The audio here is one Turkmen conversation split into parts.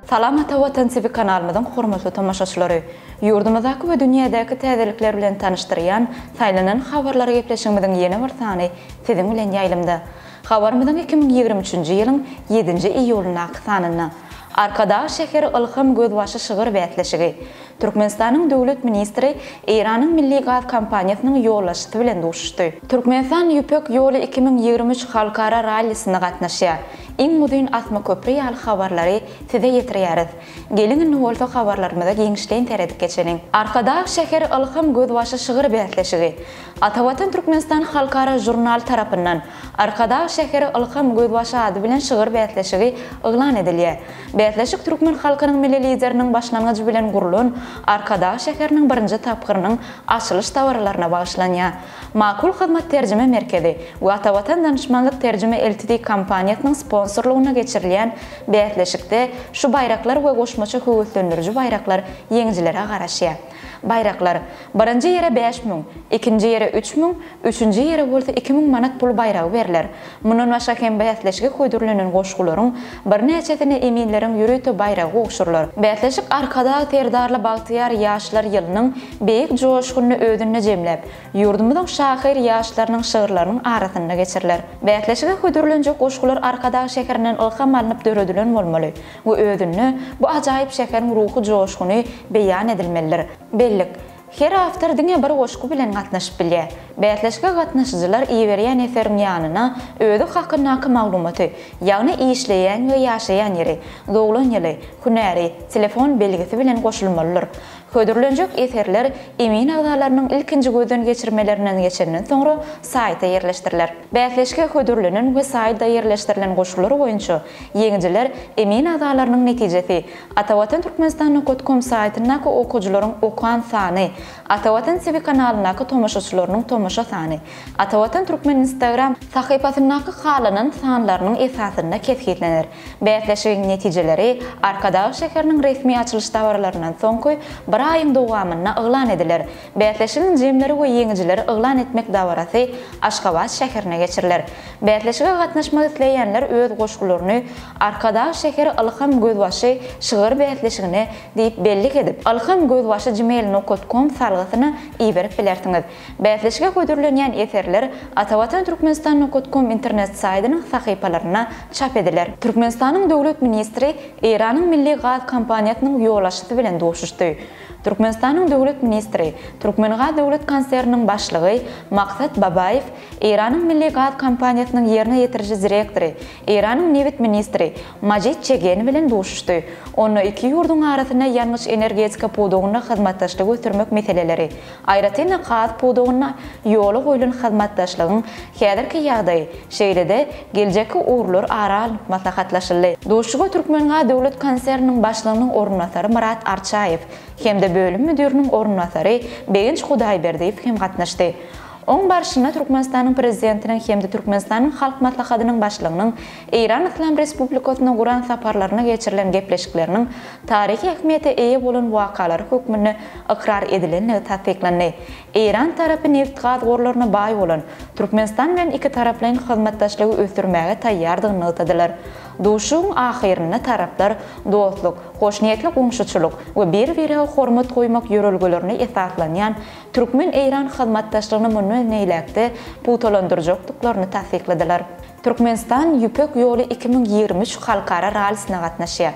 Salam Ata Watan TV kanalymyzyň hormatly tomaşaçylary! Ýurdumyzdaky we dünýädäki täzelikler bilen tanyşdyrýan Saýlanan habarlar gepleşigimiziň ýene bir sany siziň bilen ýaýlymda. Habarymyzyň iki müň ýigrimi üçünji ýylyň ýedinji iýulyndaky sanynda Arkadag şäheri ylham gözbaşy şygyr bäsleşigi, Türkmenistanyň Döwlet ministri Eýranyň Milli gaz kompaniýasynyň ýolbaşçysy bilen duşuşdy. Türkmenistan Ýüpek ýoly iki müň ýigrimi üç halkara rallisine gatnaşýar. Iň uzyn asma köpri ýaly habarlary size ýetirýäris. Geliň indi bolsa habarlarymyza giňişleýin seredip geçeliň. Arkadag şäheri ylham gözbaşy şygyr bäsleşigi Atavatan Türkmenistan halkara žurnaly tarapyndan Arkadag şäheri Ylham gözbaşy ady bilen şygyr bäsleşigi yglan edilýär. Bäsleşik türkmen halkynyň Milli Lideriniň başlangyjy bilen gurlan Arkadag şäheriniň birinji tapgyrynyň açylyş dabaralaryna bagyşlanýar. Makul Hyzmat terjime merkezi we Atavatan Danyşmanlyk terjime Ltd kompaniýasynyň sponsorlygynda geçirilýän bäsleşikde şu baýraklar we goşmaça höweslendiriji baýraklar ýeňijilere garaşýar. Baýraklar, birinji ýere bäş müň, ikinji ýere üç müň, üçünji ýere bolsa iki müň manat pul baýragy berler. Mundan başga hem bäsleşige hödürlenen goşgularyň birnäçesine eminleriň ýörite baýragy gowşurylar. Bäsleşik Arkadag Serdarly bagtyýar ýaşlar ýylynyň beýik joşgunyny özünde jemläp, ýurdumyzyň şahyr ýaşlarynyň şygyrlarynyň arasynda geçiriler. Bäsleşige hödürlenjek goşgular Arkadag şäherinden ylham alnyp döredilen bolmaly. we özünde bu ajaýyp şäheriň ruhy joşguny beýan edilmelidir. Bellik, Her awtor diňe bir goşgy bilen gatnaşyp bilýär. Bäsleşige gatnaşyjylar iberýän eseriň ýanyna özi hakyndaky maglumaty, ýagny işleýän we ýaşaýan ýeri, doglan ýyly, hünäri, telefon belgisi bilen goşulmalydyr. Hödürlenjek eserler emin agzalarynyň ilkinji gözden geçirmelerinden geçenden soňra saýta ýerleşdiriler. Bäsleşige hödürlenen we saýda ýerleşdirilen goşgular boýunça Ýeňijiler emin agzalarynyň netijesi Atavatan Türkmenistan nukat kom saýtyndaky okyjylaryň okan sany, Atavatan TV kanalyndaky tomaşaçylarynyň tomaşa sany, Atavatan Türkmen Instagram sahypasyndaky halanan sanlarynyň esasynda kesgitlener. Bäsleşigiň netijeleri Arkadag şäheriniň resmi açylyş dabaralaryndan soňky bir aýyň dowamynda yglan ediler. Bäsleşigiň jemleri we ýeňijileri yglan etmek dabarasy Aşgabat şäherine geçiriler. Bäsleşige gatnaşmak isleýänler öz goşgularyny Arkadag şäheri Ylham Gözbaşy şygyr bäsleşigine diýip bellik edip, ilhamgözbaşygmail.com salgysyna iberip bilersiňiz. Bäsleşige hödürlenýän eserler atawatanturkmenistan.com internet saýdynyň sahypalarynda çap ediler. Türkmenistanyň Döwlet ministri Eýranyň Milli gaz kompaniýasynyň ýolbaşçysy bilen duşuşdy. Türkmenistanyň döwlet ministri, Türkmengaz döwlet konserniniň başlygy Maksat Babaýew, Eýranyň Milli gaz kompaniýasynyň ýerine ýetiriji direktory, Eýranyň nebit ministri Majid Çegen bilen duşuşdy. Onda iki ýurduň arasynda ýangyç-energetika pudagynda hyzmatdaşlygy ösdürmek meseleleri, Aýratyn-da, gaz pudagynda ýola goýlan hyzmatdaşlygyň häzirki ýagdaýy, şeýle-de geljekki ugurlar ara alnyp maslahatlaşyldy. Duşuşyga Türkmengaz döwlet konserniniň başlygynyň orunbasary Myrat Arçaýew hem-de bölüm müdiriniň orunbasary Begenç Hudaýberdiýew hem gatnaşdy. Oň barşynda Türkmenistanyň Prezidentiniň hem-de Türkmenistanyň Halk Maslahatynyň Başlygynyň Eýran Yslam Respublikasyna guran saparlarynda geçirilen gepleşikleriniň taryhy ähmiýete eýe bolan wakalary hökmünde ykrar edilendigi tassyklandy. Eýran tarapy nebit-gaz gorlaryna baý bolan Türkmenistan bilen ikitaraplaýyn hyzmatdaşlygy ösdürmäge taýýardygyny nygtadylar. Duşuşygyň ahyrynda taraplar dostluk, hoşniýetli goňşuçylyk we bir-birege hormat goýmak ýörelgelerine esaslanýan türkmen-eýran hyzmatdaşlygyny mundan beýläk-de pugtalandyrjakdyklaryny tassykladylar. Türkmenistan Ýüpek ýoly iki müň ýigrimi üç halkara rallisine gatnaşýar.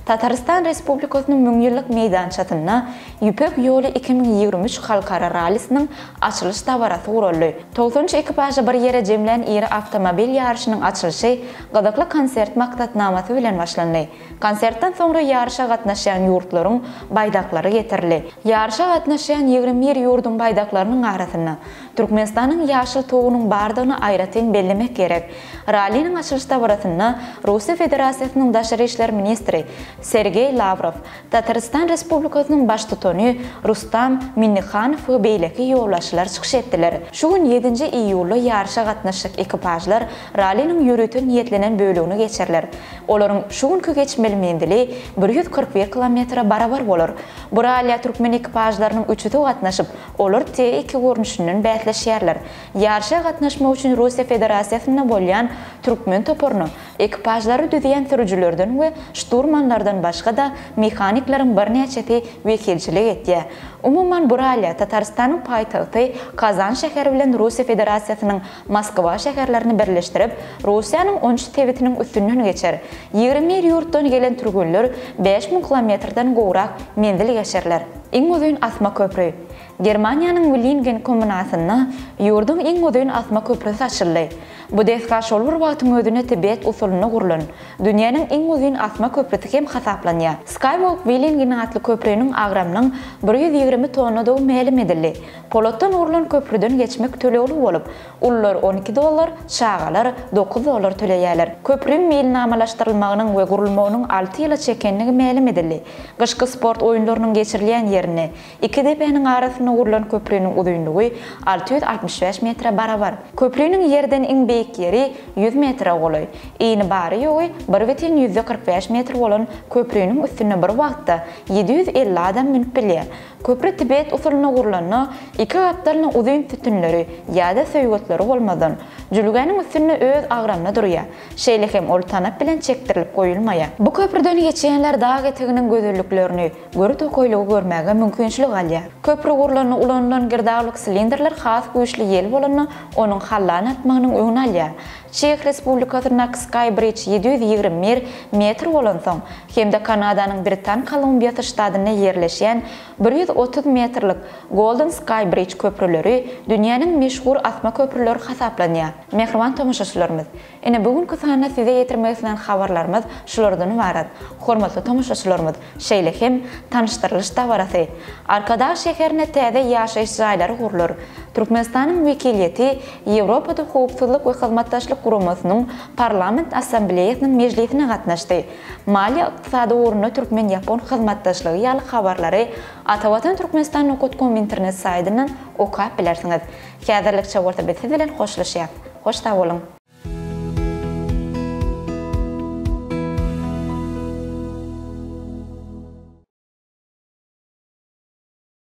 Tatarystan Respublikasynyň müňýyllyk meýdançasynda Ýüpek ýoly iki müň ýigrimi üç halkara rallisiniň açylyş dabarasy guraldy. Togsan üç ekipažy bir ýere jemlän iri awtomobil ýaryşynyň açylyşy gyzykly konsert maksatnamasy bilen başlandy. Konsertden soňra ýaryşa gatnaşýan ýurtlaryň baýdaklary getirildi. Ýaryşa gatnaşýan ýigrimi bir ýurduň baýdaklarynyň arasynda Türkmenistanyň ýaşyl tugunyň bardygyny aýratyn bellemek gerek. Ralliniň açylyş dabarasynda Russiýa Federasiýasynyň daşary işler ministri Sergeý Lawrow, Tatarystan Respublikasynyň Baştutany Rustam Minnihanow we beýleki ýolbaşçylar çykyş etdiler. Şu gün, ýedinji iýulda ýaryşa gatnaşjak ekipažlar ralliniň ýörite niýetlenen bölegini geçerler. Olaryň şu günki geçmeli menzili bir ýüz kyrk bir kilometre barabar bolar. Bu rallyýa türkmen ekipažlarynyň üçüsi gatnaşyp, Olar T-iki görnüşinden bäsleşýärler. Ýaryşa gatnaşmak üçin Russiýa Federasiýasynda bolýan türkmen toparyna ekipažlary düzýän sürüjilerden we şturmanlardan başga-da mehanikleriň birnäçesi wekilçilik edýär. Umuman, bu ralli Tatarystanyň paýtagty Kazan şäheri bilen Russiýa Federasiýasynyň Moskwa şäherlerini birleşdirip, Russiýanyň on üç sebitiniň üstünden geçer. Ýigrimi bir ýurtdan gelen türgenler bäş müň kilometrden gowrak menzil geçerler. Iň uzyn asma köpri. Germaniýanyň Willingen kommunasynda ýurduň iň uzyn asma köprüsi açyldy. Bu desga şol bir wagtyň özünde Tibet usulynda gurlan, dünýäniň iň uzyn asma köprüsi hem hasaplanýar. Skywalk Willingen atly köpriniň agramynyň bir ýüz ýigrimi tonnadygy mälim edildi. Polatdan gurlan köprüden geçmek tölegli bolup, ulular on iki dollar, çagalar dokuz dollar töleýärler. Köpriň milnamalaşdyrylmagynyň we gurulmagynyň alty ýyla çekendigi mälim edildi. Gyşky sport oýunlarynyň geçirilýän ýerini, iki depäniň arasynda gurlan köpriniň uzynlygy alty ýüz altmyş bäş metre barabar. Köpriniň ýerden iň beýik ýeri ýüz metre golaý. Yny bary-ýogy bir bütin ýüzde kyrk bäş metr bolan köpriniň üstüne bir wagtda ýedi ýüz elli adam münüp bilýär. Köpri tibet usulyna gurlanda, iki gapdalyna uzyn sütünleri ýa-da söýgetleri bolmazdan, jülgäniň üstünde öz agramyna durýar. Şeýle hem ol tanap bilen çekdirilip goýulmaýar. Bu köprüden geçýänler dag eteginiň gözelliklerini, göri tokaýlygy görmäge mümkinçilik alýar. Köpri gurlanda ulanylan girdawlyk silindrler has güýçli ýel bolanda onuň hallany atmagynyň öňüni alýar. Çeh Respublikasyndaky Skybridge ýedi ýüz ýigrimi bir metr bolansoň, hem-de Kanadanyň Britan Kolumbiýasy ştatynda ýerleşýän bir ýüz otuz metrlik Golden Skybridge köprüleri dünýäniň meşhur asma köprüleri hasaplanýar. Mähriban tomaşaçylarymyz! Ine bu günki sanda size ýetirmek islän habarlarymyz şulardan ybarat. Hormatly tomaşaçylarymyz, şeýle hem tanyşdyrylyş dabarasy. Arkadag şäherinde täze ýaşaýyş jaýlary gurlar. Türkmenistanyň wekiliýeti Ýewropada Howpsuzlyk we Hyzmatdaşlyk Guramasynyň Parlament Assambleýasynyň mejlisine gatnaşdy. Maliýe-ykdysady ugrunda türkmen-ýapon hyzmatdaşlygy ýaly habarlary Atavatan Türkmenistan Nokotkom internet saýdyndan okap bilersiňiz. Häzirlikçe bolsa biz siz bilen hoşlaşýas. Hoş sag boluň.